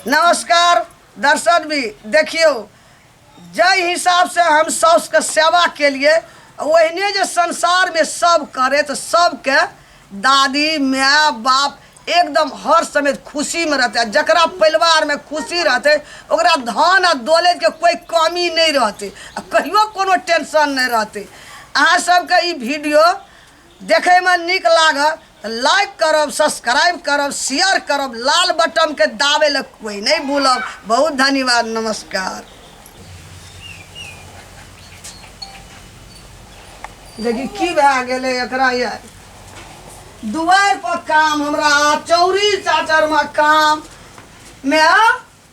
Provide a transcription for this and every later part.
नमस्कार दर्शन भी देखियौ जाहि हिसाबसँ हम साउसके सेवा केलियै ओहिने जे संसारमे सभ करै तऽ सभके दादी माय बाप एकदम हर समय खुशीमे रहतै आ जकरा परिवारमे खुशी रहतै ओकरा धन आ दौलतके कोइ कमी नहि रहतै आ कहियो कोनो टेंशन नहि रहतै अहाँ सभके ई वीडियो देखैमे नीक लागल त लाइक करब सब्सक्राइब करब शेयर करब लाल बटन के दाबै लए कोई नै भूलब बहुत धन्यवाद नमस्कार देखी की भए गेलै एकरा ये दुआर पर काम हमरा चौरी चाचर में काम में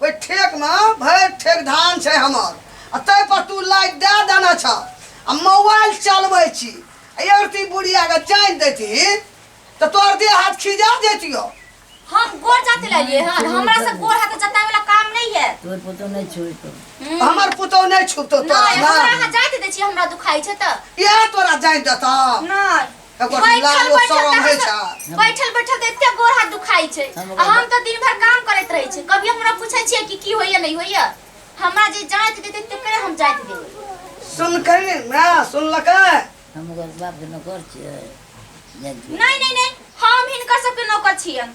ओहि ठेकमे भरि ठेक धान छै हमर आ ताहिपर तू लाइट दए देने छ आ मोबाइल चलबै छी अरती बुढ़ियाके जानि देती तऽ तोहर देह हाथ खिजा जैतियो हम गोर जाते लाइए हां हमरा से गोर हाथ जताए वाला काम नहीं है तोर पुतो नहीं छुतो हम्म। हमर पुतो नहीं छुतो तोरा ना हमरा हाथ जाते दे छी हमरा दुखाई छै त या तोरा जानि देता नहीं एकर बैठल लाल ओ बैठल शरम होइ छै तऽ- बैठल बैठल तऽ एते गोड़ हाथ दुखाइ छै हम आ हम तऽ दिन भर काम करैत रहै छै कभी हमरा पूछै छियै कि की होइए नहि होइए हमरा जे जाँच देतै तकरे हम जाँच देबै सुनकै ने ना सुनलकै हम ओकर बापके नौकर छियै जाइ छियै। नहि नहि नहि हम हिनकर सबके नौकर छियन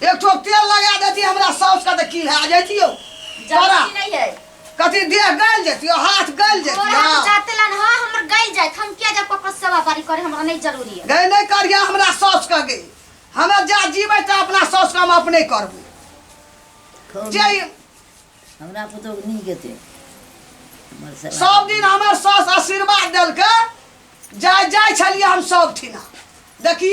एक ठो तेल लगा देती हमरा साउस का देखी है जैतियो बड़ा जरूरी नहीं है कथी देह गल जैतियो हाथ गल और जैतियो हम जाते लन हां हमर गई जाए हम क्या जा पप्पा सेवा बारी करे हमरा नहीं जरूरी है गए नहीं करिया हमरा साउस का गई हमें जा जीवे तो अपना साउस का हम अपने करबू कौन- जे हमरा पुतोह के नीक हेतै हमर सेवा सब दिन हमर साउस आशीर्वाद देलकै जाय जाय छलियै हम सब ठिना देखी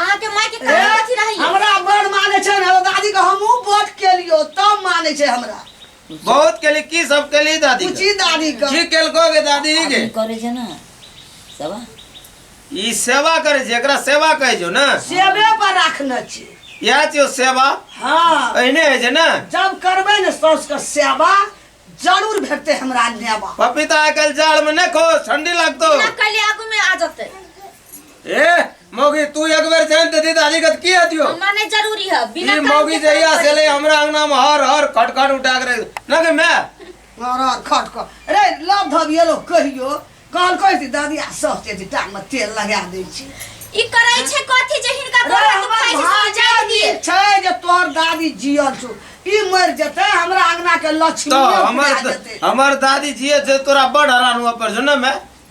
अहाँ के माय के कहाँ अथी रही हमरा बड़ माने छै ना दादी के हमहू वोट के लियो तब माने छै हमरा बहुत के लिए की सब के लिए दादी के? पूछी दादी के की केलको गे दादी गे आदमी करे छै ना सब ई सेवा करे छै एकरा सेवा कहै छौ ने सेवे पर राखने छी इएह छियौ सेवा हाँ एहने होइ छै ने जब करबै ने साउस के सेवा जरूर भेटतै हमरा नेवा पपीता आइ काल्हि जाड़मे नहि खो ठंडी लागतो ना कहिले आगू में आ जते ए मौगी तू एक बेर जान दे दी दादी कत की हतियो हमरा नहीं जरूरी है बिना ई काम मौगी के जे या काम से ले हमरा अंगना में हर हर खट खट उठा के रख ना के मैं मारा खट को रे लव धबिए लोग कहियो कहल कहै छी दादी आ सह छै जे टांग में तेल लगा दै छी ई करै छै कथी जे हिनका रे गोड़ हमर दुखाइ छै से भाग्य जाय ई दिए छै जे तोहर दादी जियल छु ई मर जेतै हमरा अंगना के लक्ष्मी तो हमर हमर दादी जी जे तोरा बड़ हरान हुआ पर जो ना मैं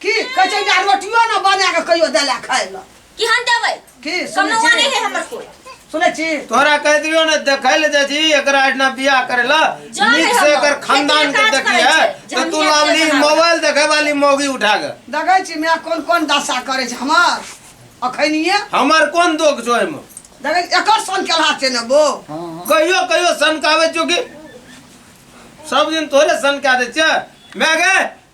की कहै छै जे रोटियो ने बना के कहियो देला खाय ल कि हम देबै की सुनै कमौआ नहि छी है हमर कोई सुनै छी तोरा कह दियो ने देखै ले जाइ छी एकरा एहिना बियाह करे ल जा रे नीक से हमर। एकर खानदान के खेतिया काज देखी करै है छै, तो तू जमीन लावली बेचना। मोबाइल देखे वाली मौगी उठा के देखै छी मेरा कोन कोन दशा करै छै हमर अखनिए हमर कोन दोख छो एहिमे देखै छी, एकर सन केलहा छै ने बो कहियो कहियो सनकावे चुकी सब दिन तोरे सनका दे छै मैं गे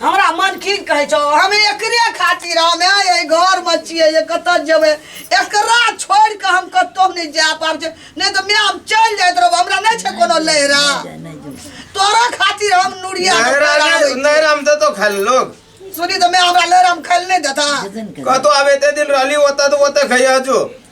हमरा मन की कहै छौ हम एकरे खातिर हम एहि घरमे छियै जे कतऽ जेबै एकरा छोड़ि कऽ हम कतहु नहि जा पाबै छै नहि तऽ माय हम चलि जाइत रहब हमरा नहि छै कोनो लहरा तोरा खातिर हम नुरिया के नहरा पैर आबै छियै। नहरा में देतो खाय ले लोग सुनी तऽ माय हमरा लहरा हम खाइ लए नहि देता कतो आबे ते दिन रहली ओता तो ओता खैया जो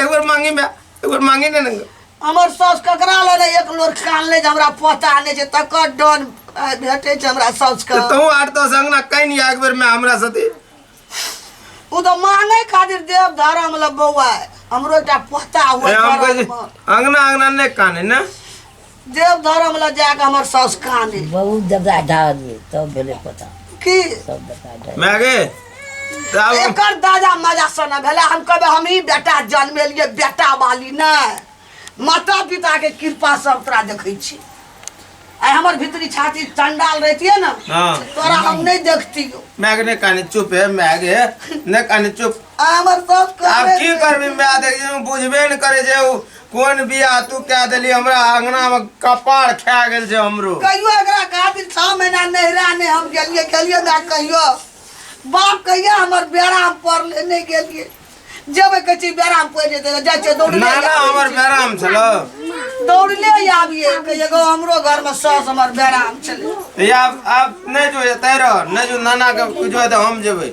एक बार मांगी में एक बार मांगी ने नंग हमर सास ककरा ले ने एक लोर कान ले जे हमरा पता नै छै तकर डन आ, भेटै छै हमरा सास के तो तू आठ दस अंगना कहीं नहीं एक बार में हमरा साथे उ तो मांगे खातिर देव धारा मतलब बौआ है। हमरो एकटा पोता ए, हुआ हम कहै छी, अंगना अंगना नहीं काने ना देव धर्म ला जाके हमर सास काने बहुत दबदा ढाल दिए तब भेले पता की सब दबदा ढाल मैं आगे तब एकर दादा मजा सना भेला हम कहबे हम ही बेटा जन्मेलिए बेटा वाली ना माता पिता के कृपा सब तोरा देखै छी आइ हमर भीतरी छाती चंडाल रहतिए ना हाँ। तोरा हम नहीं देखतियो मैं आगे नहीं कहने चुप है मैं आगे नहीं कहने चुप आ हमर सास आप कहबे की करबी मैं देखिए बुझबे नहीं करे जे उ कोन बियाह तू कह देली हमरा अंगना में कपार खा गेल छै हमरो कहियो एकरा खातिर छह महीना नहिरा ने हम गेलिए गेलिए ना कहियो बाप कहिया हमर बेराम पड़ले नहीं गेलिए जेबे कहै छी बेराम पड़ि जेतै जाइ छै दौड़ले नाना हमर बेराम छलो दौड़ले आबिए कहिए गो हमरो घर में सास हमर बेराम छलै या आब नहीं जो एते रह नहीं जो नाना के जो तो हम जेबै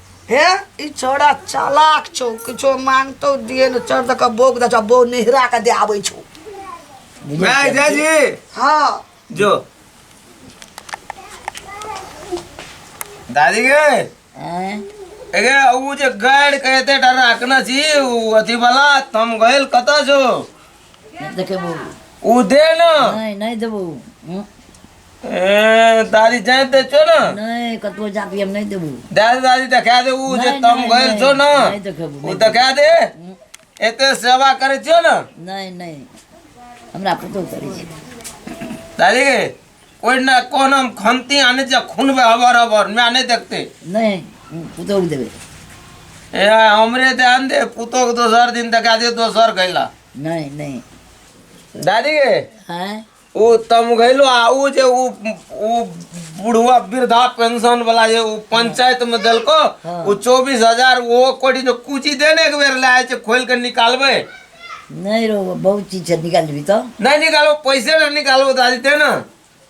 हे ई छोरा चालाक छौ किछो मांगतो दिए न चढ़ दऽ कऽ बोक दऽ छौ बो नेहरा के दे आबै छौ भाय जय जी हाँ जो दादी गे आँय? एगे ऊ जे गाइड कहते डर राखना छी ऊ अथी वाला हम गइल कतऽ जो नहि देखेबो ऊ दे न नहि नहि देबो हँ? ए, दादी जाए दे छो ना नहीं कतबो जाति हम नहीं देबू दादी दादी देखा दे ऊ जे नहीं, तम नहीं, गइल नहीं, छो ना नहीं देखेबू, ऊ नहीं देखा दे हम्म, एते सेवा करे छो ना नहीं नहीं हमरा पतो करे छै दादी के कोई ना कोन हम खमती आने जा खून बे हबर हबर मैं नहीं देखते नहीं हम्म, पतो के देबे ए हमरे ध्यान दे पुतो के दोसर दिन देखा दे दोसर गइला नहीं नहीं दादी के हैं ओ तमघैलो आ ओ जे ओ ओ बुढ़वा वृद्धा पेंशन वाला जे ओ पंचायत में देलको ओ चौबीस हजार ओ कोटी जो कुची देने एक बेर लाए छै खोल के निकालबे नहीं रो बहुत चीज से निकाल भी तो नहीं निकालो पैसे ना निकालो तो आज दे ना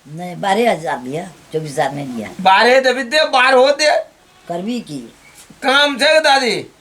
नहीं बारह हजार दिया चौबीस हजार नहीं दिया बारह देवी दे बारह दे करबी की काम छै दादी